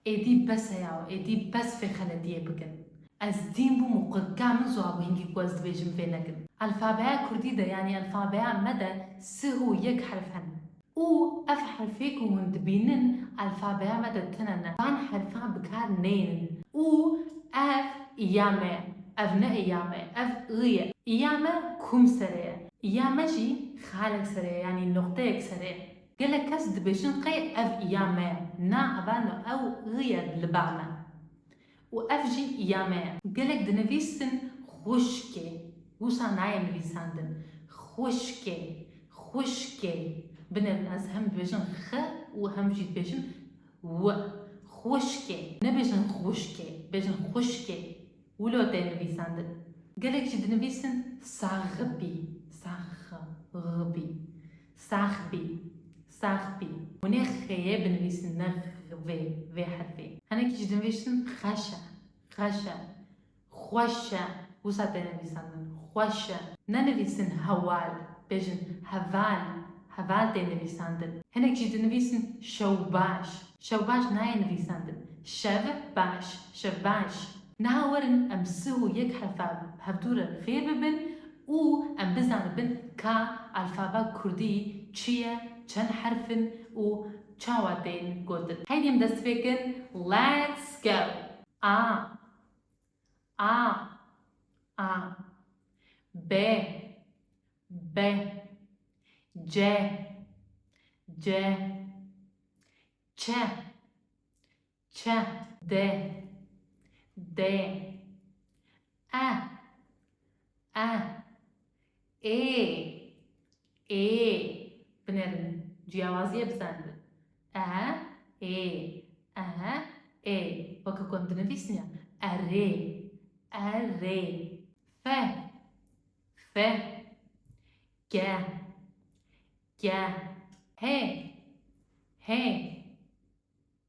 Êdî bes e yaw, êdî bes vê xeletiyê bikin. Ez dîn bûm û qut ka min ziwabû hingî ku ez dibêjim vê nekin. Elfabeya kurdî de yanî elfabeya me de sih û yek herf hene û ev herfê ku hûn dibînin elfabeya me de tune ne. Van herfan bi kar neyênin û ev i ya me ye, ev ne i ya me ye, ev ıği ye. I ya me kum serê ye, i ya me jî xalek serê ye yanî noqteyek serê ye. Gelek kes dibêjin qey ev ya me ye. Na evano ew ı ye li ba me. Û ev jî ya me ye. Gelek dinivîsin xwişkê. Wisa nayê nivîsandin. Xwişkê. Xwişkê. Binêrin ez hem dibêjin xı û hem jî dibêjin wı. Xwişkê. Nebêjin xwişkê. Bêjin xwişkê. Wilo tê nivîsandin. Gelek jî dinivîsin saxibî. Saxibî. Sax bî. Sax bî. Hûn ê xêyê binivîsin ne vê vê herfê. Hinekî jî dinvîsin xeş e. Xeş e. Xweş e. Wisa têne nivîsandin. Xweş e. Nenivîsin hewal. Bêjin heval. Heval tê nivîsandin. Hinek jî dinivîsin şewbaş. Şewbaş nayê nivîsandin. Şev baş. Şevbaş. Niha werin em sih û yek herfa hevdû re fêr bibin Û em bizanibin ka alfaba kurdî çi ye, çend herf in û çawa tên gotin. Heydî em dest pê kin Let's go! A A A B B C C Ç Çe, de, dê, e, e, ê, ê, binêrin ciyawaziyê bizanibin. E, ê, e, ê, weke ku em dinivîsin ya, erê, erê, fe, fe, ge, ge, hê, hê,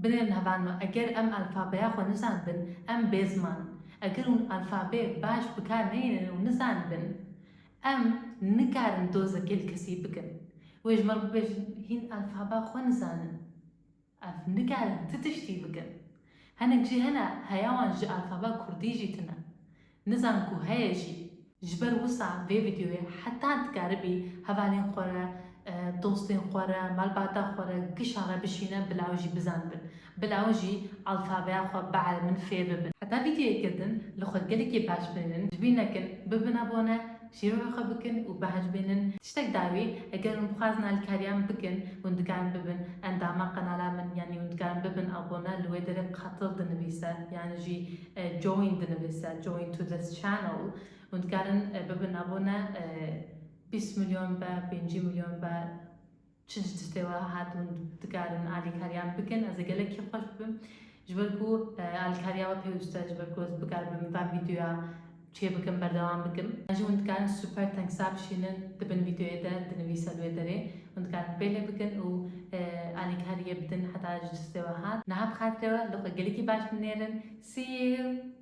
Binêrin heval me, eger em alfabeya xwe nizanibin, em bê ziman in. Eger hûn alfabeyê baş bi kar nehêlin û nizanibin, em nikarin dozekê li kesî bikin. Wê ji me re bibêjin, hîn alfabea xwe nizanin. Ev nikarin ti tiştî bikin. Hinek jî hene, heya wan ji alfabea kurdî jî tune. Nizan ku heye jî. Ji ber wisa vê vîdyoyê heta dikaribî hevalên xwe re, dostên xwe re, malbata xwe re, kişan re bişîne bila jî bizanibin. Bila ew jî alfabeya xwe biere min fêr bibin. Heta vîdyoyê girtin li xwe gelekî baş bimînin. Ji bîr nekin, bibin abone, şîrova xwe bikin û behc bimînin. Tiştek dawî, eger hûn bixwazin alîkariya min bikin, hûn dikarin bibin endama qenala min yanî hûn dikarin bibin abone li wê derê Qatil dinivîse yan jî. Join dinivîse, join to this channel hûn dikarin bibin abone bîst milyon be pêncî milyon be çi ji citê we hat hûn dikarin alîkariyan bikin ez ê gelekî xweş bibim ji ber ku alîkariya we pêwîste ji ber ku ez bikaribim van vîdyoya Çê bikim berdewam bikim. Jî hûn dikarin super tengsa bişînin di bin vîdeoyê de di nivîsa di wê derê. Hûn dikarin pêlê bikin û alîkariyê bidin heta ji destê we hat. Niha bi xatirê we li xwe gelekî baş binêrin. See you!